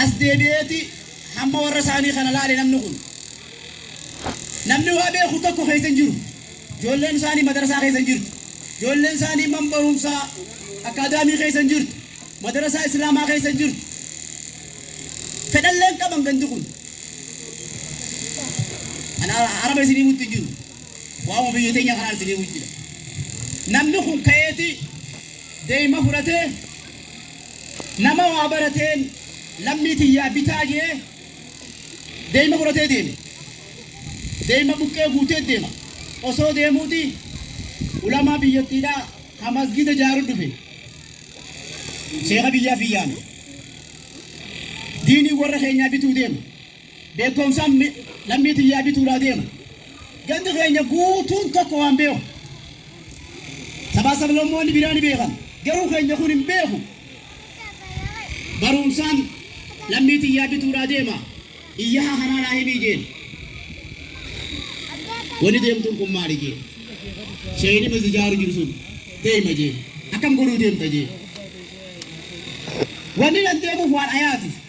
As deebi'eeti hamma warra isaanii kana laale namni kun. Namni waa beeku tokko keessa hin jiru. Ijoolleen isaanii madarasaa keessa hin jirtu. Ijoolleen isaanii man barumsaa akaadaamii keessa hin jirtu. Madarasaa Islaamaa keessa hin jirtu. Fedhallee hin qaban gandi kun. Kan araba isin himutti hin jiru. Waa'uma biyya teenya kanaan isin himu jira. Namni kun ka'eeti deema fudhatee Nama waa barateen lammii tiyyaa bitaa je'ee deeyma fudhatee deeme. Deeyma buqqee guutee deema. Osoo deemuuti ulamaa biyyattiidhaa ka masgiida jaaru dhufe. Sheekha biyyaa fi yaame. Diinii warra keenyaa bituu deema. beekkomsaan lammii tiyyaa bituudhaa deema. Gandi keenya guutuun tokko waan beeku. Sabaa sablammoonni biraa ni beekan. Garuu keenya kun hin beeku. Barumsaan lammii tiyyaa bituudhaa deema. Iyyaha kanaa naa himii jeen. Wani deemtuun kun maali jeen. Sheeyni mas ijaaru jiru sun deema jeen. Akkam godhuu deemta jeen. Wanni nan deemuuf waan ayaati.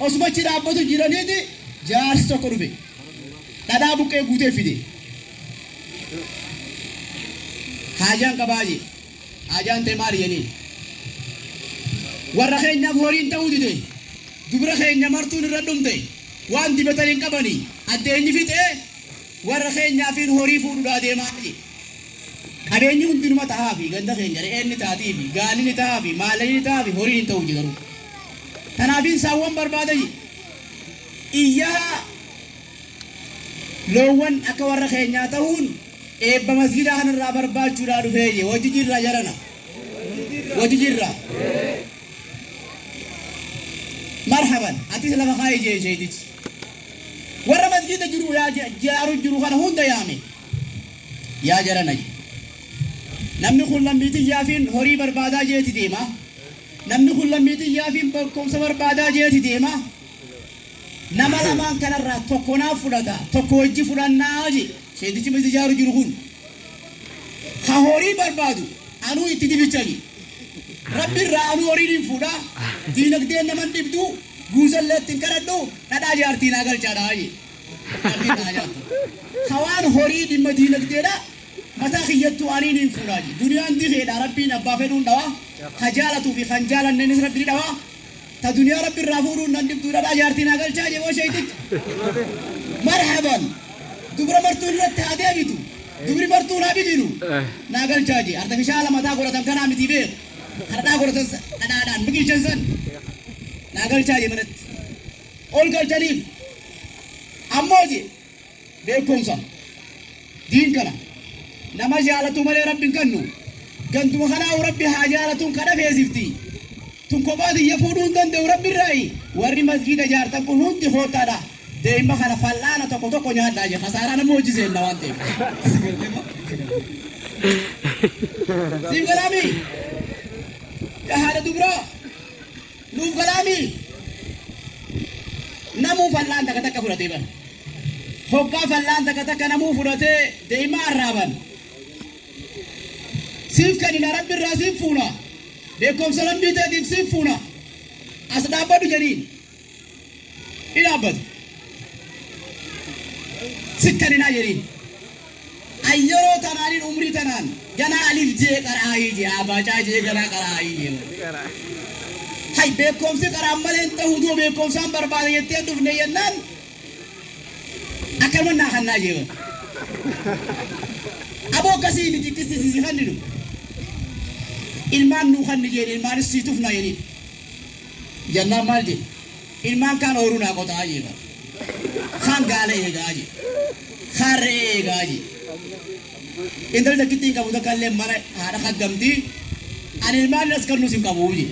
Osuma achi dhaabbatu jiraniiti jaarsi tokko dhufe. Dhadhaa buqqee guutee fide. Haajaan qabaa jee. Haajaan tee maali jeniin. Warra keenyaaf horiin ta'uu dide. Dubra keenya martuun irra dhumte. Waan dibatan hin qabani. Addeenyi fixee warra keenyaafiin horii fuudhudhaa deemaa jee. Qabeenyi hundi numa tahaafi, ganda keenya re'een ni taatiifi, gaalli ni tahaafi, maalani ni tahaafi, horiin hin tahu je garuu. Tanaafiin saawwan barbaada je. Iyyaha loowwan akka warra keenyaa tahuun eebba masgiidaa kana irraa barbaachuudhaa dhufee je. Wajji jirraa jarana? Wajji jirraa? Marhaban! Atis lafa kaa'i jeen sheeytichi. Warra masgiida jiru yaa jaaru jiru kana hunda yaame. Yaa jarana je. Namni kun lammii tiyyaafiin horii barbaadaa jeeti deema. Namni kun lammii tiyyaafiin beekkomsa barbaadaa jeeti deema. Nama lamaan kanarraa tokko naaf fudhata, tokko wajji fudhannaa je seentichi miti jaaru jiru kun. Ka horii barbaadu anuu itti dibicha je. Rabbi irraa anuu horii nin fuudha, diinagdeen nama hin dhibdu, guuzallee itti hin kadhadhu, dhadhaa jaartii naa galchaadha je. Akkatti ta'a jaattu. Ka waan horii dhimma diinagdeedha mataa kiyyattuu anii niin fuudhaa je. Duniyaan dikeedha Rabbiin abbaa fedhuun dhawa. Ka jaalatuu fi kan jaalanneenis Rabbi ni dhawa. Ta duniyaa Rabbi irraa fuudhuun nan dhibdu dhadhaa jaartii naa galchaa je moo sheeyxichi. Marhaban! Dubra martuu duratti haa deebitu. Dubri martuun haa bidilu. Naa galchaa je. Artifishaala mataa godhatan kanaa mitii beeku. Ka dhadhaa godhatan san dhadhaadhaan biqilchan san naa galchaa je manatti. ol galchaniif ammoo jee beekkomsa diin kana nama jaalatu malee rabbi hin kannu gantuma kanaahu rabbi haa jaalatuun kadha feesifti tun kophaa tiyya fuudhuu hin danda'u rabbi irraayi warri masgiida jaartan kun hundi koottaadha deeyma kana fal'aana tokko tokko nyaadhaa jee kasaaraa nama hojii seenna waan ta'eef siif galaamii yaa haadha dubraa Nuuf galaa mii? Namuu fal'aan takka takka fudhatee bar. Hoggaa fal'aan takka takka namuu fudhatee deemaa arraaban. Siif kennina rabbi irraa siif fuuna. Beekomsa rabbii teetiif siif fuuna. As dhaabbadhu jedhiin. ni dhaabbatu. Sikkan hin ajerin. Ayyeroo tanaanin umrii tanaan ganaa alif jee qara'aayii jee aabaacaa jee ganaa qara'aayii jee bara. Hay beekoomsi qaraan malee hin ta'uu doo beekoomsaan barbaada jettee hin dhufne jennaan akkanuma naa kannaa jee bara. Aboo akkasii miti qisti si si kanninu. Ilmaan nuu kanni jeen ilmaanis sii tufnaa jeniin. Jennaan maal jedhe? Ilmaan kaan ooruu naa qota'aa jee bar. Kaan gaala eegaa jee. Kaan re'ee eegaa jee. Intalli takkittii hin qabu takka illee mana haadha kaggamti. Ani ilmaan nas kannus hin qabu jee.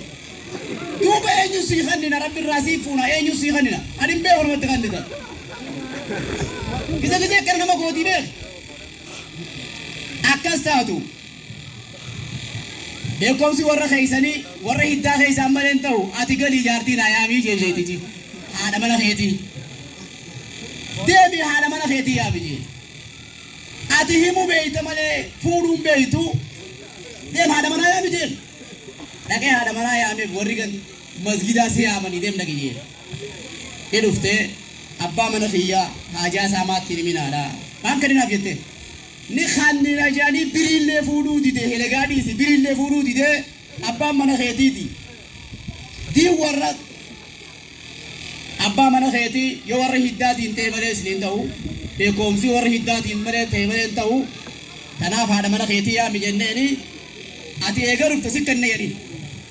Duuba eenyu sii kannina rabbi irraa sii fuuna eenyu sii kannina? Ani hin beeku namatti kannitan. Gisa gisee akkana nama gootii beekta. Akkas taatu. Beekkomsi warra keessanii warra hiddaa keessaan malee hin ta'u. Ati galii jaartii naa yaamii jee jeetiti haadha mana keetii. Deemii haadha mana keetii yaami jee. Ati himuu beekta malee fuudhuu hin beektu. Deem haadha manaa yaami jeen. Dhaqee haadha manaa yaameef warri gan masgidaa si yaamanii deem dhaqi jeen. Ni dhuftee abbaa mana kiyyaa haajaa isaa maatti hin himinaadha. Maaf gadinaaf jettee. Ni kannina jedhanii biriillee fuudhuu dide helegaa dhiisi biriillee fuudhuu didee abbaan mana keetiiti D warra Abbaa mana keetii yoo warra hiddaatiin ta'e malee isiniin ta'u beekoomsi warra hiddaatiin malee ta'e malee hin ta'u tanaaf haadha mana keetii yaami jenneeni ati eega dhufte si kanna jedhin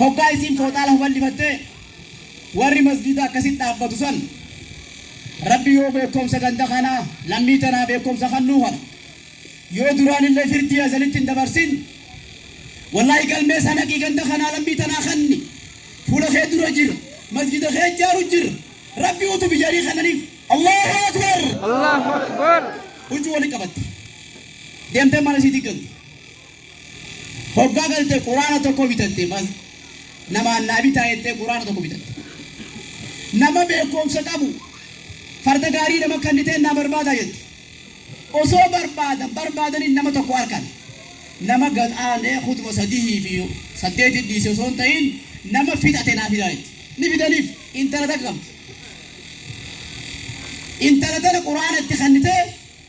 Hoggaa isiin fooxaa lafa ballifattee warri masgiida akkasitti dhaabbatu san Rabbi yoo beekkomsa ganda kanaa lammii tanaa beekkomsa kannuu kana yoo duraanillee firdii azalitti hin dabarsin wallaahi galmee isaa naqii ganda kanaa lammii tanaa kanni fuula kee dura jira masgiida kee ijaaru jira Rabbi utu bijarii kannaniif Allahu Akbar Allahu Akbar huccuu wali qabatte deemtee mana isii diggalte Hoggaa galte quraana tokko bitatte mas namaan naa bitaa jettee quraana tokko bitatte. Nama beekkoomsa qabu farda gaarii nama kanniteen naa barbaadaa jette. Osoo barbaadan barbaadanii nama tokko arkan. Nama gad aanee khutba sadihii fi saddeeti dhiise osoo hin ta'iin nama fixate naa fidaa jette. Ni fidaniif intala takka qabdi. Intala tana quraana itti kannitee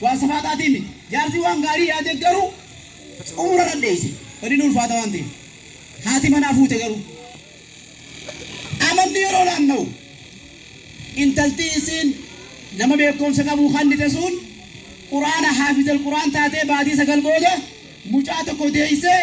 Waan safaataatii miti. Jaarsi waan gaarii yaadee garuu xumura irra dheeyse. Badiin ulfaata waan ta'eef. Haati manaa fuute garuu. Amanti yeroo naannawu. Intalti isiin nama beekkoomsa qabu kannite suun Qur'aana haafizal Qur'aan taatee baatii 9 booda mucaa tokko deeysee.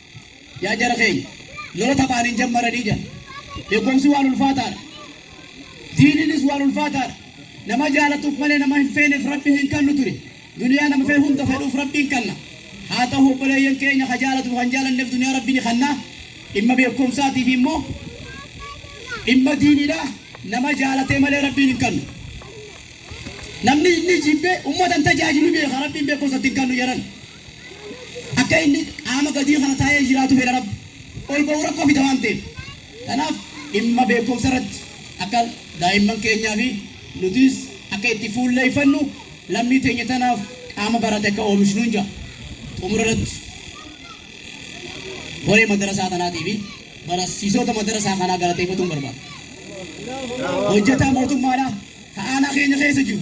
Yaa jara keenya, lola taphaan hin jammaranii jira. Beekomsi waan ulfaataadha. Diiniinis waan ulfaataadha. Nama jaalatuuf malee nama hin feeneef Rabbi hin kannu ture. Duniyaa nama fee hunda fedhuuf Rabbiin kanna. Haa ta'u obboleeyyan keenya ka jaalatuuf kan jaalanneef duniyaa Rabbi ni kanna. Dhimma beekomsaatiif immoo dhimma diiniidha. Nama jaalatee malee Rabbiin hin kannu. Namni inni jibbe ummata hin tajaajilu beeka Rabbiin beekumsatti hin kannu jedhan. Akka inni qaama gadii kana taa'ee jiraatu fedha Rabbi. Ol ba'uu rakkoo fida waan ta'eef. Kanaaf dhimma beekkomsa irratti akka daa'imman keenyaa fi nutiis akka itti fuulleeffannu lammii teenya tanaaf qaama barate akka oomishnuun ja'a. Xumura irratti koree madarasaa tanaatii fi barasiisoota madarasaa kanaa galateeffatuun barbaada. Hojjataa mootummaadha ka aanaa keenya keessa jiru.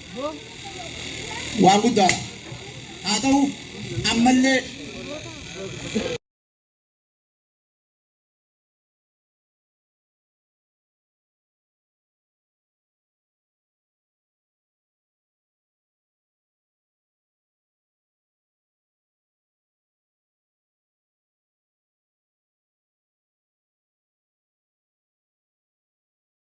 waan guddaadha. Haa ta'u ammallee.